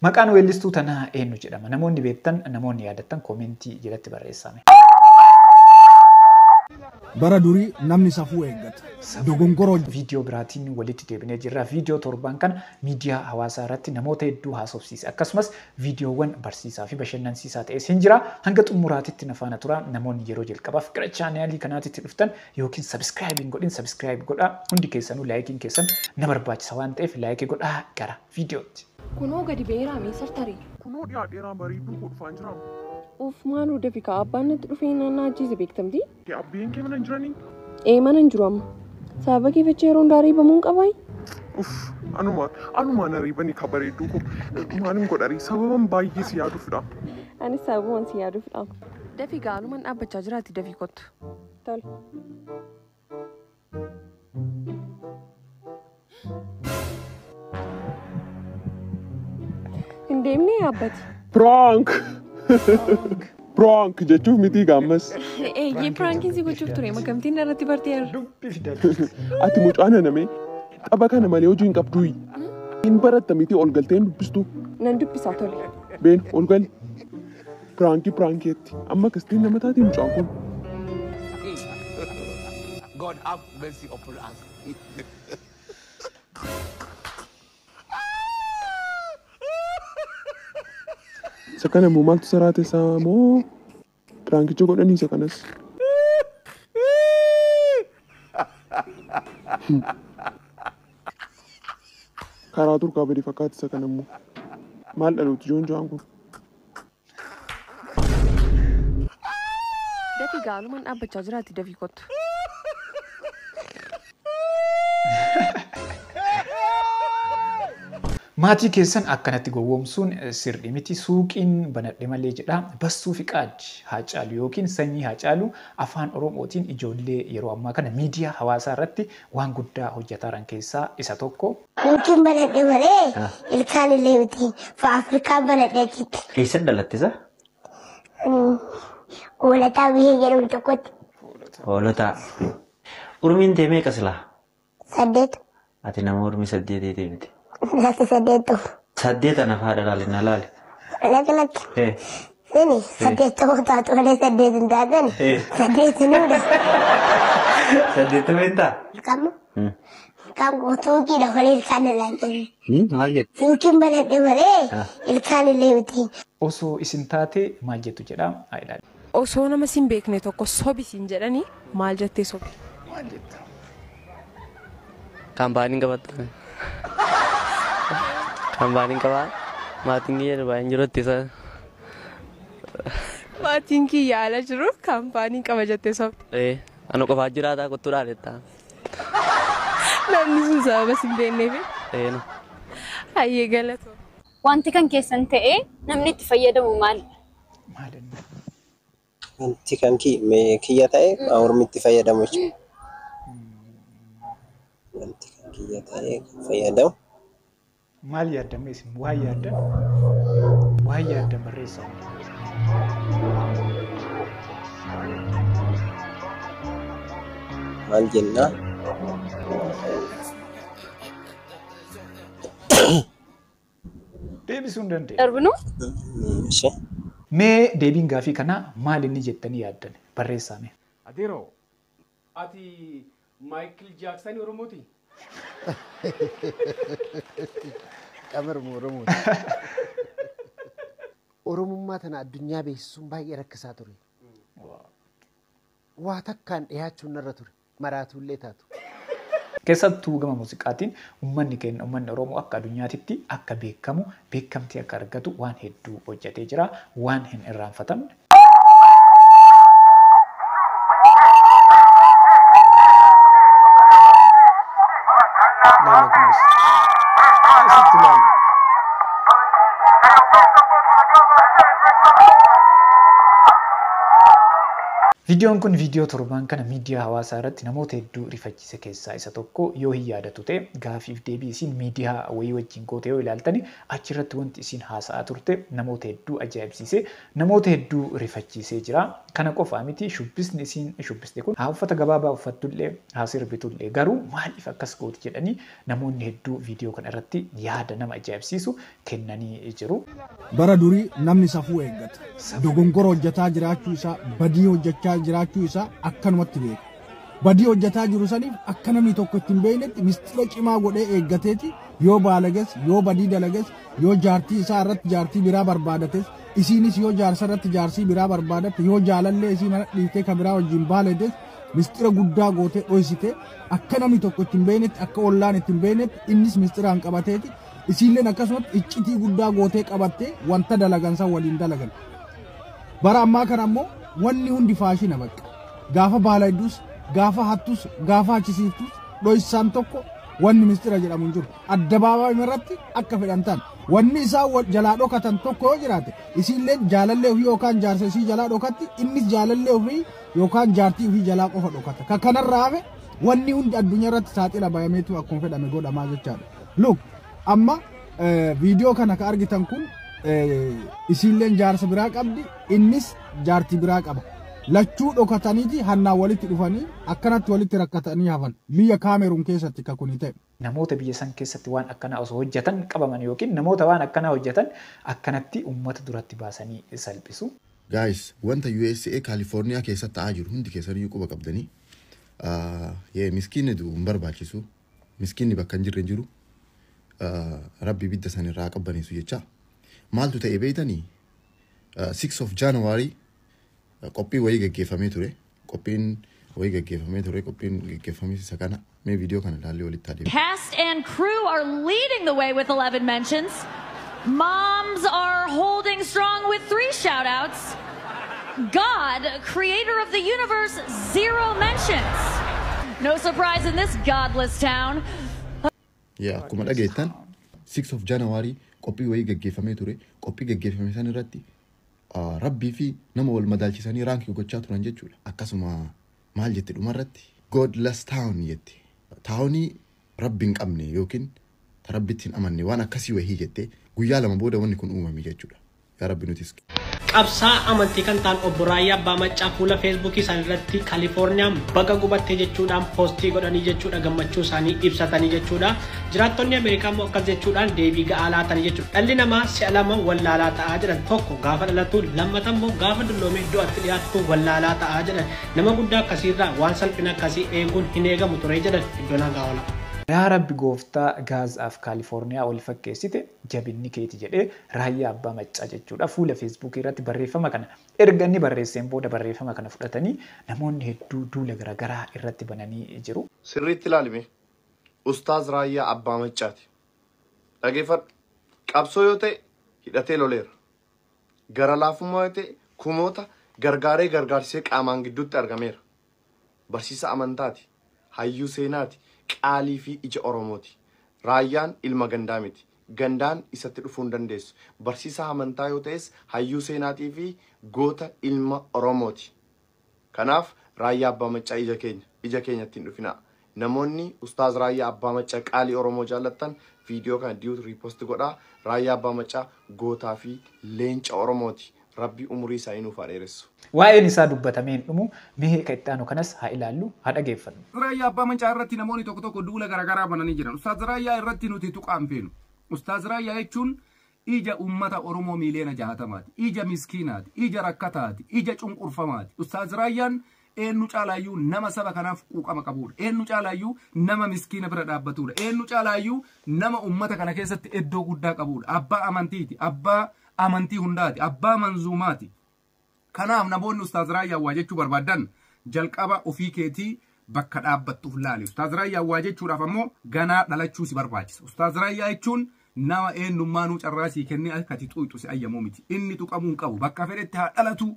Maqaan weellistuu tanaa eenyu jedhama? Namoonni beektan, namoonni yaadattan koomentii jalatti barreessaa mee. Bara durii namni safuu eeggata. Dogongora hojjeta. Viidiyoo biraatiin walitti deebinee jirra. Viidiyoo torban kana miidiyaa hawaasaa irratti namoota hedduu haasofsiise. Akkasumas viidiyoowwan barsiisaa fi bashannansiisaa ta'es hin jira. Hanga xumuraatitti na faana turaa. Namoonni yeroo jalqabaaf gara chaanaalii kanaatitti dhuftan ykn subscribe hin godhin subscribe godhaa. Hundi keessanuu laayikiin keessan na barbaachisa waan ta'eef like godhaa. Gara. viidiyootti. Kunoo gadi ba'eeraa mee sartarii. Kunoo dhiyaadheeraa bareedduu koo dhufaan jiraa. Uff maaloo dafi kaa abbaan natti dhufee na na ajjeese beektamti. Kee abbeen kee mana hin jiranii? Ee mana hin jiru amma. Sababa kee fachee yeroo hundaa reebamu hin qabaayi. Uff anuma anuma na reebanii kaa bareedduu koo. Maalin godharii sababan baay'ee si yaaduufidha. Anis sababuman si yaaduufidha. Dafi gaa anuman dhaabbachaa jiraati dafi kottu. Tole. Hin deemne yaabbati. Prank! Prank jechuuf mitii gaammas. Eeyyee piraankiin si gochuuf ture makamtiin irratti bartee irra. Dubbi fida. Ati mucaa nanamee qaba kana malee hojii hin qabdu. Hin baratta mitii ol galtee hin dubbistu. Nan dubbisaa tole. Been ol gali. Piraanki piraankeetti. Amma kistiin nama taati mucaan kun. God have mercy upon us. Isa kana immoo maaltu saraa teessaa moo piraankicha godhanii isa kanas. Karaa turkaa badee fakkaata isa kana immoo. Maal dhalooti joon jo'aan kun. Dafii gaa aluman dhaabbachaa jiraati dafii kottu. Maatii keessan akkanatti gowwoomsuun eh, sirrii miti. Suuqiin banadhe malee jedha. Bassuu fi qaaddi haacaalu yookiin sanyii haacaalu afaan Oromootiin ijoollee yeroo ammaa kana miidiyaa hawaasaa irratti waan guddaa hojjetaaran keessaa isa tokko. Hintiin banadhe malee Ah. ilkaan illee miti. Fa Afrikaan banadhe achitti. Eessan dhalatte sa? Hoolataa biyya jedhamu tokkotti Hoolotaa. Urmiin tee meeqa silaa? saddeet Ati nama urmii saddeetiitii miti. lafa saddeet ta'u. Saddeet ana faadha laali na laali. Ana kanatti Eh. sini saddeet ta'uu taatu malee saddeet hin taatan Eh. saddeet hin huda. Saddeettama hin ta'a. Kammo Hmm. kan guutuukiidha malee ilkaan illaan jenne. Hmm, Maal jettu? Tuukiin banadhe malee Ah. ilkaan illee miti. Osoo isin taate maal jettu jedha. Haa ilaallu. Osoo nama sin beekne tokko sobi siin jedhani maal jettee sobi? Maal jetta? Kan baaniin qabatta. Kan baaniin qabaa. Maatiin kiyya Dubaay hin jiru itti sana. Maatiin kiyya ala jiru kaampaanii qaba jettee sobde. Ee, ana qofaa jiraataa kottuu dhaalettaa. Namni sun sababa sin beekneefi. Ee, no. Hayyee galatoo. Wanti kan keessan ta'ee namni itti fayyadamu maali? maal inni. Wanti kan ki, me, kiyya ta'e kan ormitti fayyadamu jechuudha. Wanti kan kiyya ta'e kan fayyadamu. Maal yaaddan mee isin waan yaaddan waan yaaddan barreessaa. Maal jenna? Deebisuu hin dandeenye. darbinu. Ishee. Mee deebiin gaafii kanaa maal inni jettanii yaaddan? Barreessaa mee. Adeeroo! Ati Maayikil Jaaksani Oromooti? Qamaruma Oromooti. Oromummaa tana addunyaa beeksisuun baay'ee rakkisaa ture. Waa takkaan dhihaachuun narra ture. maraatuullee taatu. Keessattuu gama muuziqaatiin ummanni keenna, ummanni Oromoo akka adunyaatitti akka beekkamu, beekkamtii akka argatu waan hedduu hojjatee jira. Waan hin irraanfatamne. Laala kunoos. Asitti laala. Viidiyoon kun viidiyoo torbaan kana Miidiyaa hawaasaa irratti namoota hedduu rifachiise keessaa isa tokko yoo hin yaadattu ta'e gaafiif deebii isiin miidiyaa wayii wajjiin goote yoo ilaaltani achi irratti wanti isiin haasa'aa turte namoota hedduu ajaa'ibsiisee namoota hedduu rifachiisee jira. Kana qofaa miti shubbisni isiin shubbiste kun haa uffata gabaabaa uffattullee haa sirbitullee garuu maaliif akkas gooti jedhanii namoonni hedduu viidiyoo kana irratti yaada nama ajaa'ibsiisu kennanii jiru. Bara durii namni safuu eeggata. Dogongora hojjetaa jiraachuu isaa, badii hojjechaa jiraachuu isaa akkanumatti beeka. Badii hojjetaa jiru saniif akka namni tokko itti hin beeknetti mistira cimaa godhee eeggateeti yoo baalages, yoo badii dalages, yoo jaartii isaa irratti jaartii biraa barbaadates, isiinis yoo jaarsa irratti jaarsii biraa barbaadatte, yoo jaalallee isii mana dhiiftee ka biraa wajjin baaledes mistira guddaa gootee dhoysite akka namni tokko itti hin beeknetti, akka ollaan itti hin beeknetti innis mistiraan qabateeti Isiilleen akkasumatti iccitii guddaa gootee qabattee wanta dalagan san waliin dalagan. Bara ammaa kana ammoo wanni hundi faashina bakka. Gaafa baalaydus, gaafa hattus, gaafa achisiiftus dhoysaan tokko wanni mistira jedhamu hin jiru. Addabaabaayuma irratti akka fedhan ta'an. Wanni isaan wal jalaa dhokatan tokko yoo jiraate isiilleen jaalallee ofii yookaan jaarsa isii jalaa dhokatti innis jaalallee ofii yookaan jaartii ofii jalaa qofa dhokata. Ka kanarraa hafe wanni hundi addunyaa irratti saaxila bayameetu akkuma fedhame godhamaa jechaadha. Look, amma viidiyoo kana ka argitan kun isiilleen jaarsa biraa qabdi, innis jaartii biraa qaba. Lachuu dhokataniiti hannaan walitti dhufanii akkanatti walitti rakkatanii hafan. Biyya Kaameruun keessatti ka kuni ta'e. Namoota biyya san keessatti waan akkanaa osoo hojjatan qabaman yookiin namoota waan akkanaa hojjatan akkanatti ummata duratti baasanii salphisu. Guys wanta usa California keessatti ta'aa jiru hundi keessaniyyuu quba qabdanii. Yee miskiinni du'u hin barbaachisu. Miskiinni bakka hin jirre hin jiru. Rabbi ibidda san irraa haa qabbaneessu jechaa. Maaltu ta'e beeytanii? 6 of January qophii wayii geggeeffamee ture. Qophiin wayii geggeeffamee ture. Qophiin geggeeffamis isa kana. Mee viidiyoo kana ilaallee walitti haa deebinu. Cast and crew are leading the way with 11 mentions. Moms are holding strong with 3 shout-outs. God, creator of the universe, zero mentions. No surprise in this godless town. Yaa akkuma dhageettan 6 of January qophii wayii gaggeeffamee ture. Qophii gaggeeffame san irratti ah, rabbii fi nama wal madaalchisanii raankii gochaa turan jechuudha. Akkasuma maal jette dhumarratti? Godless town jette. Taawunii Rabbi hin qabne yookiin ta Rabbitti hin amanne waan akkasii wayii jette guyyaa lama booda wanni kun uumame jechuudha. Yaa Rabbi nutis. Qabsaa'aa amantii kan ta'an Obbo Raayyaa Abbaa Maccaa fuula Feesbuukii isaanii irratti Kalifoorniyaan baga gubatte jechuudhaan poostii godhanii jechuudha gammachuu isaanii ibsatanii jechuudha. Jiraattonni Ameerikaa immoo akkas jechuudhaan deebii ga'aa laatanii jechuudha. Dhalli namaa si'a lama wallaalaa ta'a jedhan. Tokko gaafa dhalatu lammata immoo gaafa dulloomee du'atti dhiyaatu wallaalaa ta'a jedhan. Nama guddaa akkasiirraa waan salphina akkasii eeguun hin eegamu ture jedhan Iddoonaa Gaawalaa. Yaa Rabbi Gooftaa Gaaz af Kaalifoorniyaa wal fakkeessite jabinni keeti jedhee Raayyaa Abbaa Maccaa jechuudha fuula Feesbuukii irratti barreeffama kana erga inni barreesseen booda barreeffama kana fudhatanii namoonni hedduu duula garagaraa irratti bananii jiru. Sirriitti ilaali mee. Ustaaz Raayyaa Abbaa Maccaati. Dhageeffadhu. Qabsoo yoo ta'e hidhatee loleera. gara laafummaa yoo ta'e kumoota gargaaree gargaarsisee qaamaan gidduutti argameera. Barsiisaa amantaati. Hayyuu seenaati. Qaalii fi ija Oromooti. Raayyaan ilma gandaa miti. Gandaan isatti dhufuu hin dandeessu. Barsiisaa amantaa yoo ta'es hayyuu seenaatii fi goota ilma Oromooti. Kanaaf Raayyaa Abbaa Maccaa ija keenya ija keenyatti hin dhufinaa. Namoonni Ustaaz Raayyaa Abbaa Maccaa Qaalii Oromoo jaallattan Video kana Duet Repost godhaa. Raayyaa Abbaa Maccaa Gootaa fi Leenca Oromooti. Rabbi Umurii isaanii nuuf haa dheeressu. Waa'een isaa dubbatamee hin dhumu, mee ka itti aanu kanas haa ilaallu, haa dhageeffannu. Raayyaa Abbaa Maccaa irratti namoonni tokko tokko duula garaagaraa bananii jiran. Ustaaz Raayyaa irratti nuti tuqaa hin feenu. Ustaaz Raayyaa jechuun Ija ummata Oromoo miiliyoona 60ti. Ija miskiinaati. Ija rakkataati. Ija cunqurfamaati. Ustaaz Raayyaan eennu caalaayyuu nama saba kanaaf quuqama qabuudha. Eennu caalaayyuu nama miskiina bira dhaabbatuudha. Eennu caalaayyuu nama ummata kana keessatti eddoo guddaa qabuudha. Abbaa amantiiti. Abbaa amantii hundaati. Abbaa manzuumaati. Kanaaf namoonni Ustaaz Raayyaa waa jechuu barbaaddan jalqaba ofii keetii bakka dhaabbattuuf laali. Ustaaz Raayyaa waa jechuudhaaf ammoo ganaa dhalachuu si barbaachisa. Ustaaz Raayyaa jechuun nama eenyummaanuu carraa sii kennee akka ati xuuxxu si ayyamuu miti. Inni tuqamuu hin qabu. Bakka fedhetti haa dhalatu,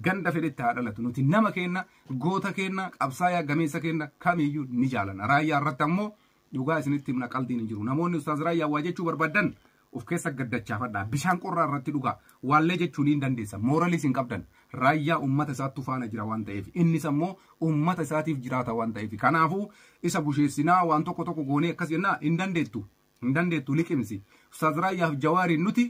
ganda fedhetti haa dhalatu. Nuti nama keenna, goota keenna, qabsaayaa gameessa keenna kamiyyuu ni jaalanna. Raayyaa irratti ammoo Dhugaa isinitti himna qaldiin hin jiru. Namoonni Ustaaz Raayyaa waa jechuu barbaaddan of keessa gaddachaafadhaa. Bishaan qorraa irratti dhugaa. Waallee jechuu niin dandeessan. Mooraliis hin qabdan. Raayyaa ummata isaattu faana jira waan ta'eef. Innis ammoo ummata isaatiif jiraata waan ta'eef. Kanaafuu isa busheessinaa waan tokko tokko goonee akkas jennaa hin dandeettu. Hin dandeettu liqimsi. Ustaaz Raayyaaf Jawaariin nuti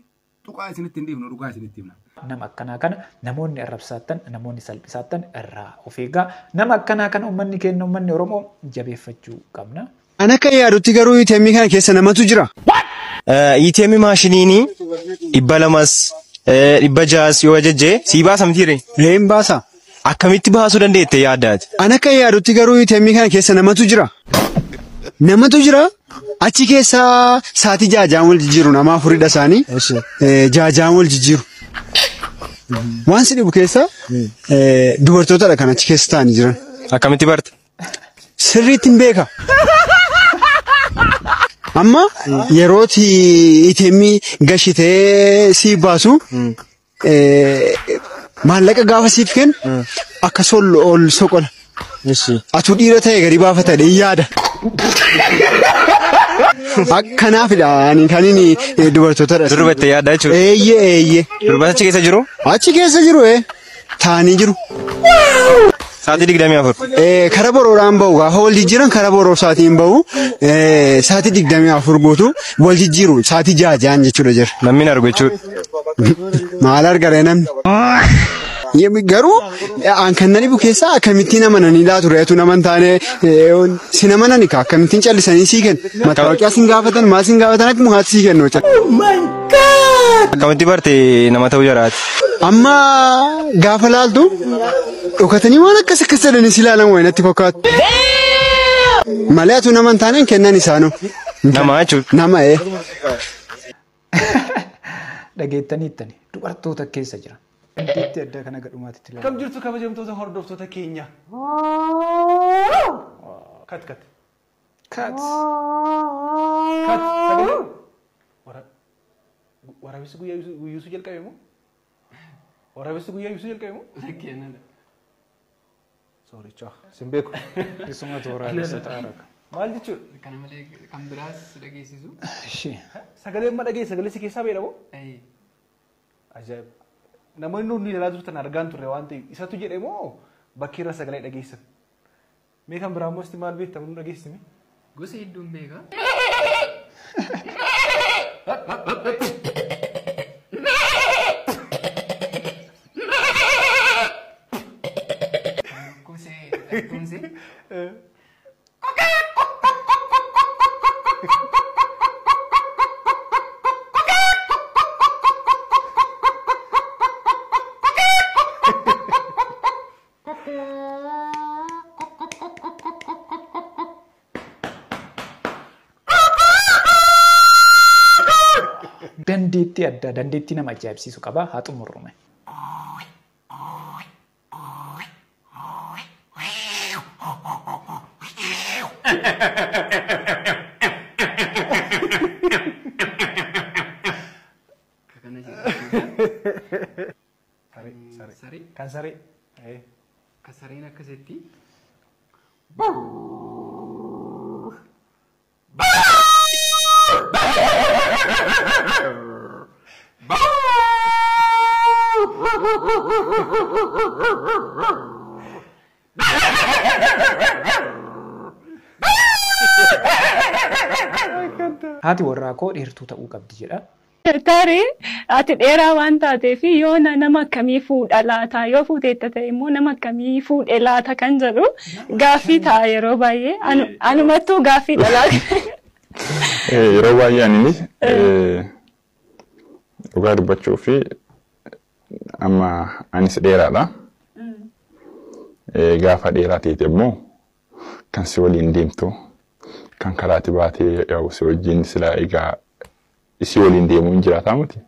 Tuqaa isinitti hin dhiifnu dhugaa isinitti himna. Nama akkanaa kana namoonni arrabsaattan, namoonni salphisaattan irraa of eegaa. Nama akkanaa kana ummanni keenna, ummanni Oromoo jabeeffachuu qabna. An akkan yaadutti garuu ATM kana keessa namatu jira. ATM maashiniini dhibba lamas dhibba ja'as yoo ajajje sii baasa mitiiree? Ee hin baasa. Akkamitti baasuu dandeette yaadda ati? An akkan yaadutti garuu ATM kana keessa namatu jira. Namatu jira achi keessa saatii jaajaan wal jijjiiru nama afuridha isaanii Eh, jaajaan wal jijjiiru. Waan si dhibu keessa eh, dubartootadha kan achi keessa taa'anii jiran. Akkamitti barta? Sirriitti hin beeka. Amma yerooti ATM gashitee si baasu maallaqa gaafa siif kennu akka sol ol soqola. Atu dhiira ta'e gadi baafata dee yaada. Akkanaafidha ani kan inni dubartootadha. Durba itti yaadda jechuudha. Eeyyee eeyyee. Durba achi keessa jiru? Achi keessa jiru ee taa'anii jiru. Sa'aatii digdamii afur. Eh, Kara borooraan bahu gaafa wal jijjiiran kara boroor sa'aatiin bahu eh, sa'aatii digdamii afur guutuu wal jijjiiru sa'aatii ja'a ja'an jechuudha jira. Namni hin argu jechuudha. Maal argare namni? Yem- Garuu eh, an kan nani bukeessaa akkamittiin amananii laatu reetu nama hin taane eh, on- sin amanani ka akkamittiin callisanii sii kennu. Mataawaqiyaa sin gaafatan maal sin gaafatan akkuma haati sii kennu jechuudha. Akkamitti barte nama ta'uu jaraati. Amma gaafa laaltu Dhokatanii waan akkas akkas jedhanii si ilaalan wayi natti fakkaatu. Malee atuu nama hin taaneen kennan isaanoo. Namaa jechuudha. Nama ee. Dhageettaniittani dubartoota keessa jira. Dandeettii addaa kana gadhumaatti itti Akkam jirtu kabajamtoota hordoftoota keenya. Kat kat. Kat. Kat. Sagalee. Wara. Waraabessi guyyaa guyyuusu jalqabe moo? Waraabessi guyyaa ibsuu jalqabe moo? Lakkeenana. Soorichaa. Sin beeku. Isumatu waraabessa ta'a raka. Maal jechuudha? Kana malee kan biraas si dhageessisu. Ishee. Sagalee amma dhagee sagalee si keessaa beela moo? Ayii. Ajaa'iba. Namoonni nuti ilaalaa turtan argaan turre waan ta'eef isatu jedhe moo bakki irra sagalee dhageessan? Mee kan biraa immoo isti maal beekta nu dhageessimi. Gosa hedduun beeka. Kumsee kumsee. Dandeettii addaa, dandeettii nama ajaa'ibsiisu qaba. Haa xumurru mee. Akka kana jedhee. Saree, Mm, saree. saree. Kan saree. Eh. Ka sareen akkasitti. Haati warraa koo dheertuu ta'uu qabdi jedha. Tarii ati dheeraa waan taateef yoona nama akkamii fuudha laata? Yoo fuuteetta ta'e immoo nama akkamii fuudhe laata kan jedhu gaaffii ta'a yeroo baay'ee. Anu- Anumattuu gaaffii dhalaa. Eh, Yeroo baay'ee aninis eh, dhugaa dubbachuu fi amma anis dheeraadha. Eh, Gaafa dheeraa ta'etti immoo kan si waliin deemtu kan karaatti baatee yaa'u si wajjin silaa egaa isii waliin deemu hin jiraataa miti.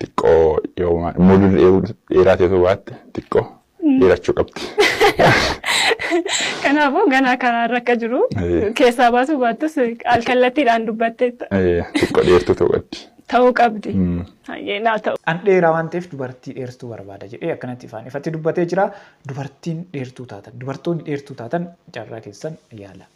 Xiqqoo yoo maal muuduu dheeruu dheeraa ta'e osoo baatte xiqqoo dheerachuu qabdi. Kanaafuu ganaa karaa irra akka jiru Eh. keessaa baasuu baattus alkallattiidhaan dubbatteetta. Eh, Xiqqoo dheertuu ta'uu qabdi. Ta'uu qabdi. Mm. Hayyee naa ta'u. An dheeraa waan ta'eef dubartii dheertuu barbaada jedhee akkanatti ifaan ifatti dubbatee jira. Dubartiin dheertuu taatan, dubartoonni dheertuu taatan carraa keessan yaala.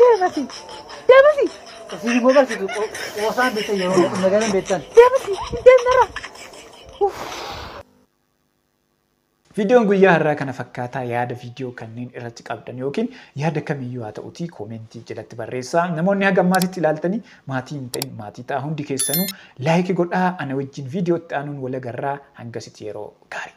Deebasi. Deebasi. Isin immoo barsiisu qoosaan beektan yeroo magaalaan beektan. Deebasi. Deemnara. Viidiyoon guyyaa har'aa kana fakkaataa yaada viidiyoo kanneen irratti qabdan yookiin yaada kamiyyuu haa ta'utii koomentii jalatti barreessaa. Namoonni haga ammaasitti ilaaltanii maatii hin ta'in maatii ta'a hundi keessanuu laayikii godhaa ana wajjin viidiyootti aanuun walagarraa hangasitti yeroo gaarii.